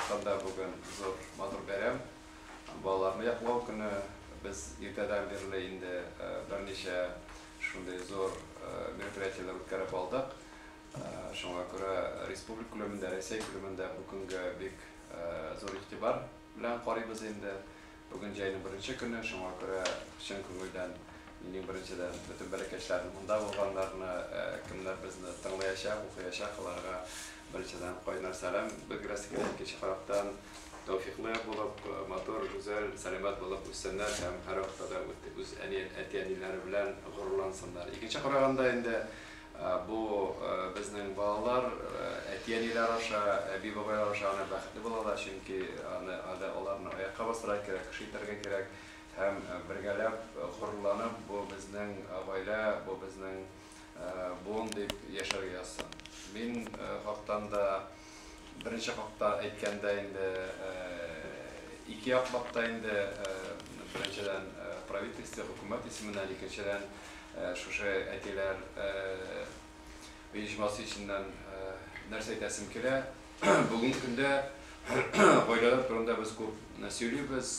Татарстанда бүген зур матур бәйрәм, балаларны яклау көне. Без иртәдән бирле инде берничә шундый зур мероприятиеләр үткәреп алдык. Шуңа күрә республика күләмендә, Рәсәй күләмендә бу көнгә бик зур игътибар белән карыйбыз инде. Бүген җәйнең беренче көне, шуңа күрә чын күңелдән минем беренчедән бөтен бәләкәчләрне, монда булганнарны, кемнәр безне тыңлыячак, укыячак, аларга беренчедән кайнар сәлам белдерәсе килә, икенче карактан, тәүфиклы булып, матур, гүзәл, сәламәт булып үссеннәр һәм һәрвакытта да үз әти-әниләре белән горурлансыннар. Икенче караганда инде. Бу безнең балалар әти-әниләр аша, әби-бабайлар аша гына бәхетле булалар, чөнки аны әле аларны аякка бастырырга кирәк, кеше итәргә кирәк һәм бергәләп горурланып, бу безнең гаилә, бу безнең буын дип яшәргә язсын. Мин хактан да. Беренче хакта әйткәндә инде ике яклап та инде беренчедән правительство, хөкүмәт исеменнән, икенчедән шушы әтиләр оешмасы исеннән нәрсә әйтәсем килә, бүгенге көндә гаиләләр турында без күп сөйлибез,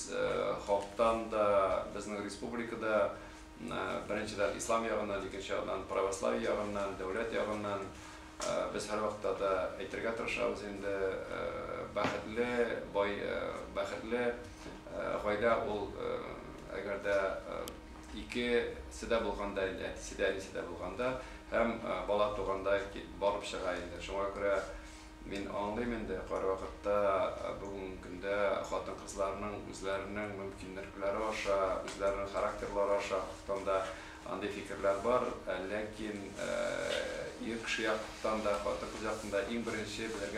халыктан да, безнең республикада беренчедән ислам ягыннан, икенче ягыннан православие ягыннан, дәүләт ягыннан Без һәрвакытта да әйтергә тырышабыз инде, бәхетле, бай, бәхетле гаилә ул, әгәр дә икесе дә булганда, әтисе дә, әнисе дә булганда һәм бала туганда барып чыга инде. Шуңа күрә мин аңлыйм инде, кайвакытта бүгенге көндә хатын-кызларның үзләренең мөмкинлекләре аша, үзләренең характерлары аша, хосусанда Андый фикерләр бар, ләкин ир кеше яктан да, хатын-кыз яктан да иң беренче белергә